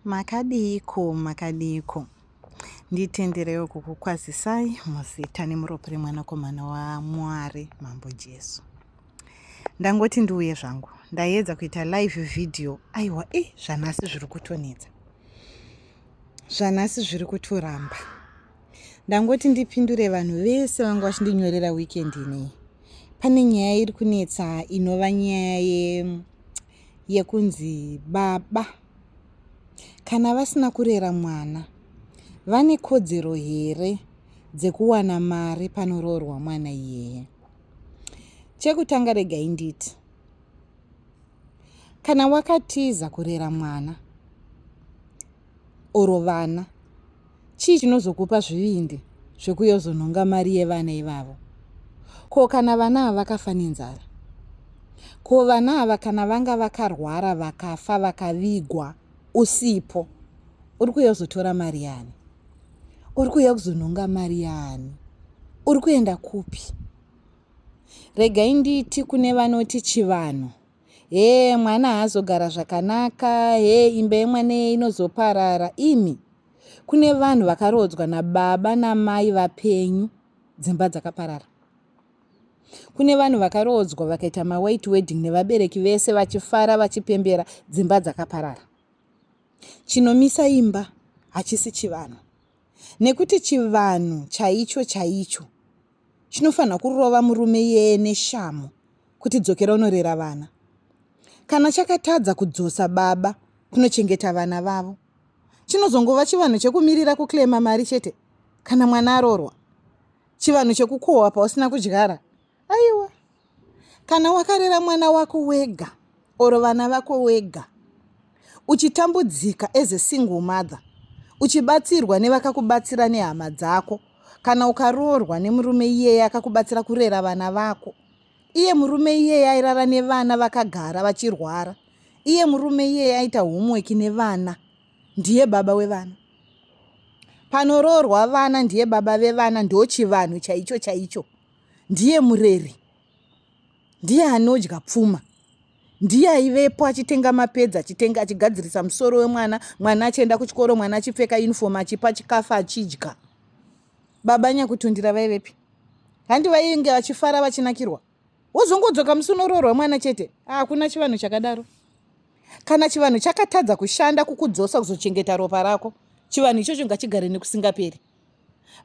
Makadiiko, makadiiko. Nditenderewo kukukwazisai muzita nemuropo remwanakomana waMwari Mambo Jesu. Ndangoti ndiuye zvangu, ndaiedza kuita live video. Aiwa, e zvanhasi zviri kutonetsa, zvanhasi zviri kutoramba. Ndangoti ndipindure vanhu vese vanga vachindinyorera weekend inei. Pane nyaya iri kunetsa inova nyaya ye yekunzi baba kana vasina kurera mwana vane kodzero here dzekuwana mari panoroorwa mwana iyeye chekutanga regai nditi kana wakatiza kurera mwana or vana chii chinozokupa zvivindi zvekuyozonhonga mari yevana ivavo ko kana vana ava vakafa nenzara ko vana ava kana vanga vakarwara vakafa vakavigwa usipo uri kuuya kuzotora mari yaani uri kuuya kuzonhonga mari yaani uri kuenda kupi regai nditi kune vanoti chivanhu Hee mwana haazogara zvakanaka, hee imba yemwana iye inozoparara. Imi, kune vanhu vakaroodzwa nababa namai vapenyu dzimba dzakaparara. Kune vanhu vakaroodzwa vakaita mawhite wedding nevabereki vese vachifara vachipembera dzimba dzakaparara. Chinomisa imba hachisi chivanhu. Nekuti chivanhu chaicho chaicho chinofanha kurova murume iyeye neshamu kuti dzokera unorera vana. Kana chakatadza kudzosa baba kunochengeta vana vavo, chinozongova chivanhu chekumirira kuclaima mari chete kana mwana arorwa. Chivanhu chekukohwa pausina kudyara. Aiwa, kana wakarera mwana wako wega or vana vako wega uchitambudzika as a single mother uchibatsirwa nevakakubatsira nehama dzako kana ukaroorwa nemurume iyeye akakubatsira kurera vana vako iye murume iyeye airara nevana vakagara vachirwara iye murume iyeye aita homework nevana ndiye baba wevana panoroorwa vana ndiye baba vevana ndochivanhu chaicho chaicho ndiye mureri ndiye anodya pfuma ndiye aivepo achitenga mapedza achitenga achigadzirisa musoro wemwana mwana achienda kuchikoro mwana achipfeka uniform achipa chikafu achidya baba nyakutundira vaivepi handi vainge vachifara vachinakirwa wozongodzoka musi unoroorwa mwana chete hakuna chivanhu chakadaro kana chivanhu chakatadza kushanda kukudzosa kuzochengeta ropa rako chivanhu ichocho ngachigare nekusingaperi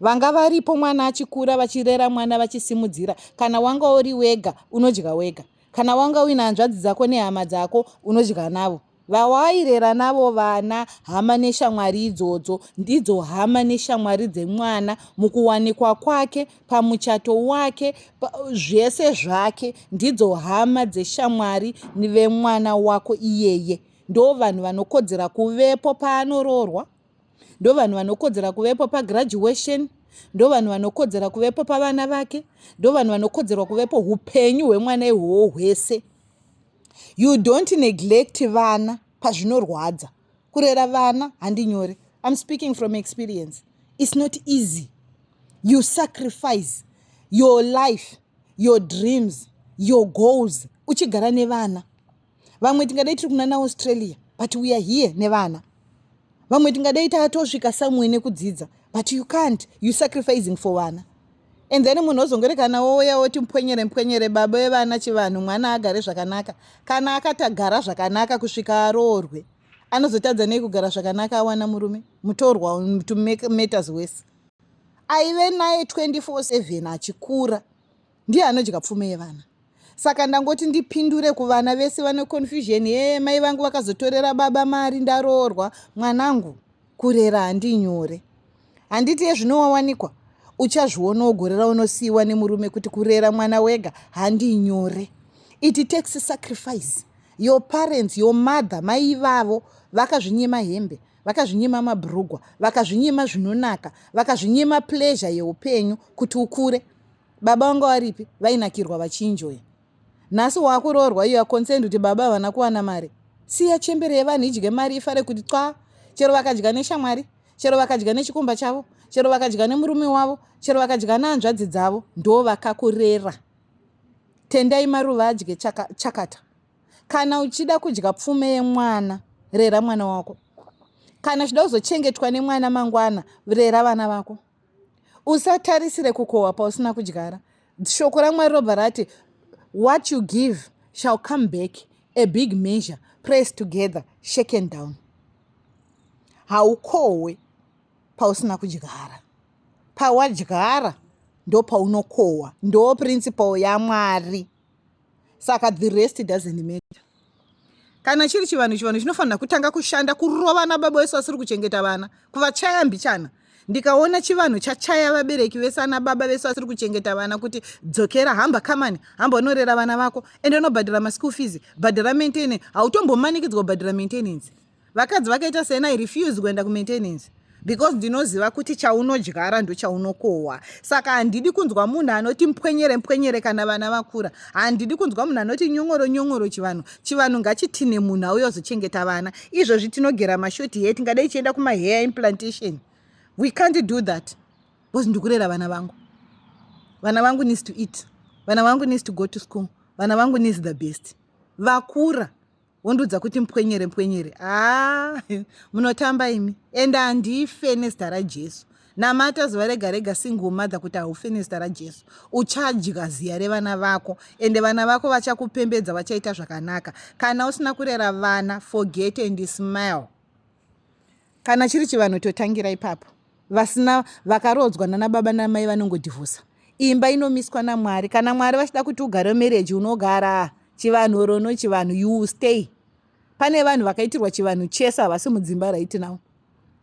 vanga varipo mwana achikura vachirera mwana vachisimudzira kana wanga uri wega unodya wega kana wanga uina hanzvadzi dzako nehama dzako unodya navo vawairera navo vana hama neshamwari idzodzo ndidzo hama neshamwari dzemwana mukuwanikwa kwake pamuchato wake pa, zvese zvake ndidzo hama dzeshamwari vemwana wako iyeye ndo vanhu vanokodzera kuvepo paanoroorwa ndovanhu vanokodzera kuvepo pagraduation ndovanhu vanokodzera kuvepo pavana vake ndovanhu vanokodzerwa kuvepo upenyu hwemwana ihwowo hwese you don't neglect vana pazvinorwadza kurera vana handi nyore im speaking from experience its not easy you sacrifice your life your dreams your goals uchigara nevana vamwe tingadai tiri kunana australia but we are here nevana vamwe tingadai tatosvika somewhere nekudzidza but you can't you sacrificing for vana and then munhu ozongorekana wouya woti mpwenyere mpwenyere baba vevana chivanhu mwana agare zvakanaka kana akatagara zvakanaka kusvika aroorwe anozotadza nei kugara zvakanaka awana murume mutorwa to make matters worse aive naye 24 7 achikura ndiye anodya pfume yevana saka ndangoti ndipindure kuvana vese vane confusion yee mai vangu vakazotorera baba mari ndaroorwa mwanangu kurera handinyore handiti yezvinowawanikwa uchazviona wogorera unosiyiwa nemurume kuti kurera mwana wega handinyore iti taxi sacrifice your parents your mother mai ivavo vakazvinyima hembe vakazvinyima mabrugwa vakazvinyima zvinonaka vakazvinyima pleasure yeupenyu kuti ukure baba vanga varipi vainakirwa vachinjoya nhasi wakuroorwa you are concerned kuti baba havana kuwana mari siya chembere yevanhu idye mari ifare kuti twa chero vakadya neshamwari chero vakadya nechikumba chavo chero vakadya nemurume wavo chero vakadya nehanzvadzi dzavo ndo vakakurera tendai maruva adye chaka, chakata kana uchida kudya pfume yemwana rera mwana wako kana uchida kuzochengetwa nemwana mangwana rera vana vako usatarisire kukohwa pausina kudyara shoko ramwari robva rati what you give shall come back a big measure press together shaken down haukohwe pausina kudyara pawadyara ndopaunokohwa ndo principle yamwari saka the rest doesn't matter kana chiri chivanhu chivanhu chinofanira kutanga kushanda kurovana baba vese vasiri kuchengeta vana kuvachaya mbichana ndikaona chivanhu chachaya vabereki vese ana baba vese vasiri kuchengeta vana kuti dzokera hamba kamani hamba unorera vana vako ende unobhadhara maschool fees bhadhara maintenance hautombomanikidzwa kubhadhara maintenance Vakadzi vakaita sena I refuse kuenda ku maintenance because ndinoziva kuti chaunodyara ndochaunokohwa saka handidi kunzwa munhu anoti mpwenyere mpwenyere kana vana vakura handidi kunzwa munhu anoti nyongoro nyongoro chivanhu chivanhu ngachitine munhu auye ozochengeta vana izvozvi tinogera mashoti here tingadai ichienda kumahair implantation we can't do that because ndikurera vana vangu vana vangu needs to eat vana vangu needs to go to school vana vangu needs the best vakura wondiudza kuti mpwenyere mpwenyere haa munotamba imi ende handife nezita rajesu namata zuva rega rega single mother kuti haufe nezita rajesu uchadya ziya revana vako ende vana vako vachakupembedza vachaita zvakanaka kana usina kurera vana forget and smile kana chiri chivanhu totangira ipapo vasina vakaroodzwa nana baba namai vanongodhivhosa imba inomiswa namwari kana mwari vachida kuti ugare marriage unogara chivanhu oro no chivanhu you will stay pane vanhu vakaitirwa chivanhu chese havasi mudzimba right now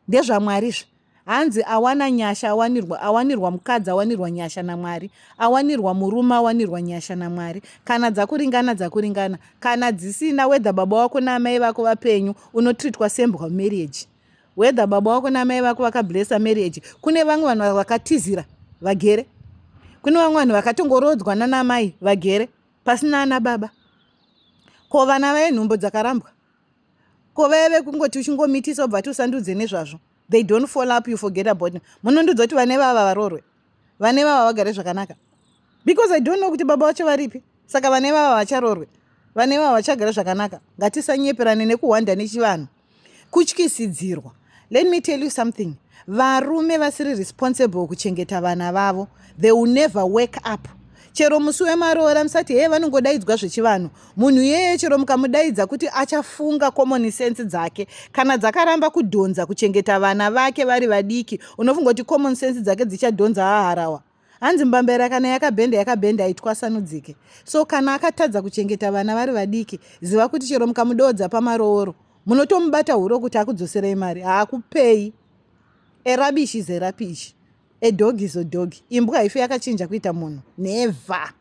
ndezvamwari izvi Hanzi awana nyasha awanirwa awanirwa mukadzi awanirwa nyasha naMwari awanirwa murume awanirwa nyasha naMwari kana dzakuringana dzakuringana kana dzisina whether baba wako naamai vako vapenyu unotreatwa sembwa marriage whether baba wako naamai vako vakablessa marriage kune vamwe vanhu vakatizira vagere kune vamwe vanhu vakatongorodzwa nanamai vagere pasina ana baba ko vana vaye nhumbo dzakarambwa ko vaya vekungoti uchingomitisa obva tiusandudze nezvazvo they don't follow up you forget about munondudza kuti vane vava varorwe vane vava vagare zvakanaka because i don't know kuti baba vacho varipi saka vane vava vacharorwe vane vava vachagare zvakanaka ngatisanyeperane nekuhwanda nechivanhu kutyisidzirwa Let me tell you something. Varume vasiri responsible kuchengeta vana vavo. They will never wake up. Chero musi wemaroora musati heye vanongodaidzwa zvechivanhu. Munhu iyeye chero mukamudaidza kuti achafunga common sense dzake. Kana dzakaramba kudhonza kuchengeta vana vake vari vadiki, unofunga kuti common sense dzake dzichadhonza haharawa. hanzi mbambaira kana yakabhenda yakabhenda haitwasanudzike so kana akatadza kuchengeta vana vari vadiki ziva kuti chero mukamudoodza pamarooro munotomubata huro kuti akudzoserei mari haakupei erabishi zerapishi edhogi zodhogi imbwa haife yakachinja kuita munhu nevha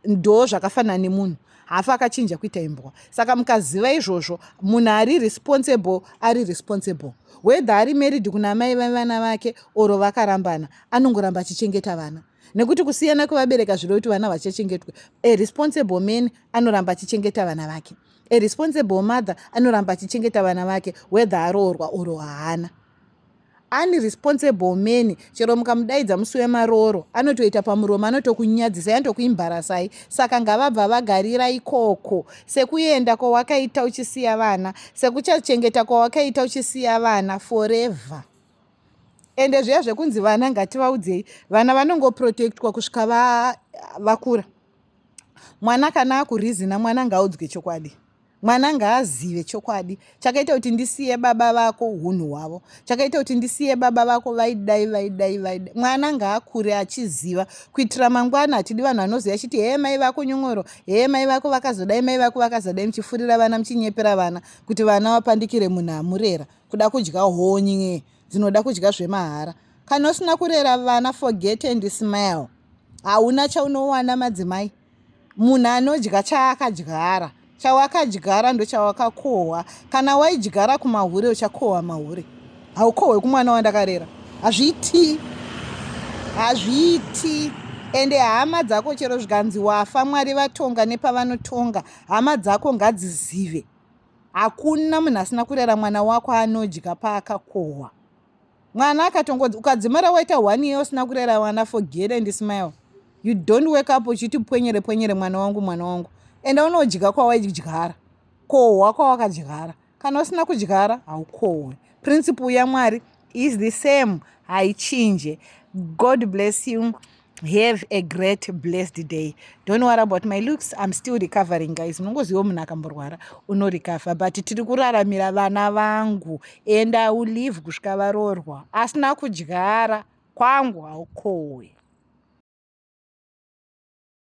ndo zvakafanana nemunhu hafi akachinja kuita imbwa saka mukaziva izvozvo munhu ari responsible ari responsible whether ari married kuna amai vevana vake oro vakarambana anongoramba achichengeta vana nekuti kusiyana kwevabereka zviro kuti vana vachachengetwe a responsible man anoramba achichengeta vana vake a responsible mother anoramba achichengeta vana vake whether aroorwa oro haana unresponsible man chero mukamudaidza musi wemarooro anotoita pamuromo anotokunyadzisai anotokuimbarasai saka ngavabva vagarira ikoko sekuenda kwawakaita uchisiya vana sekuchachengeta kwawakaita uchisiya vana forever ende zviya zvekunzi vana ngativaudzei vana vanongoprotectwa kusvika vakura va mwana kana akurizina mwana ngaudzwe chokwadi Mwana ngaazive chokwadi chakaita kuti ndisiye baba vako hunhu hwavo chakaita kuti ndisiye baba vako vaidai vaidai vaidai mwana ngaakure achiziva kuitira mangwana hatidi vanhu vanoziva chiti hee mai vako nyongoro hee mai vako vakazodai mai vako vakazodai muchifurira vana muchinyepera vana kuti vana vapandikire munhu amurera kuda kudya honye dzinoda kudya zvemahara kana usina kurera vana forget and smile hauna chaunowana madzimai Munhu anodya chaakadyara. Chawakadyara ndochawakakohwa. Kana waidyara kumahure uchakohwa mahure. Haukohwe kumwana wandakarera. Hazviiti. Hazviiti. Ende hama dzako chero zvikanzi wafa Mwari vatonga nepavanotonga. Hama dzako ngadzizive. Hakuna munhu asina kurera mwana wako anodya paakakohwa. mwana akatongodzi ukadzimara waita one year usina kurera vana forget and smile you don't wake up uchiti pwenyere pwenyere mwana wangu mwana wangu ende unodya kwawaidyara kohwa kwawakadyara kana usina kudyara haukohwe principle yamwari is the same haichinje god bless you have a great blessed day don't worry about my looks i'm still recovering guys unongoziva munhu akamborwara unorecover but tiri kuraramira vana vangu and i will live kusvika varoorwa asina kudyara kwangu haukowe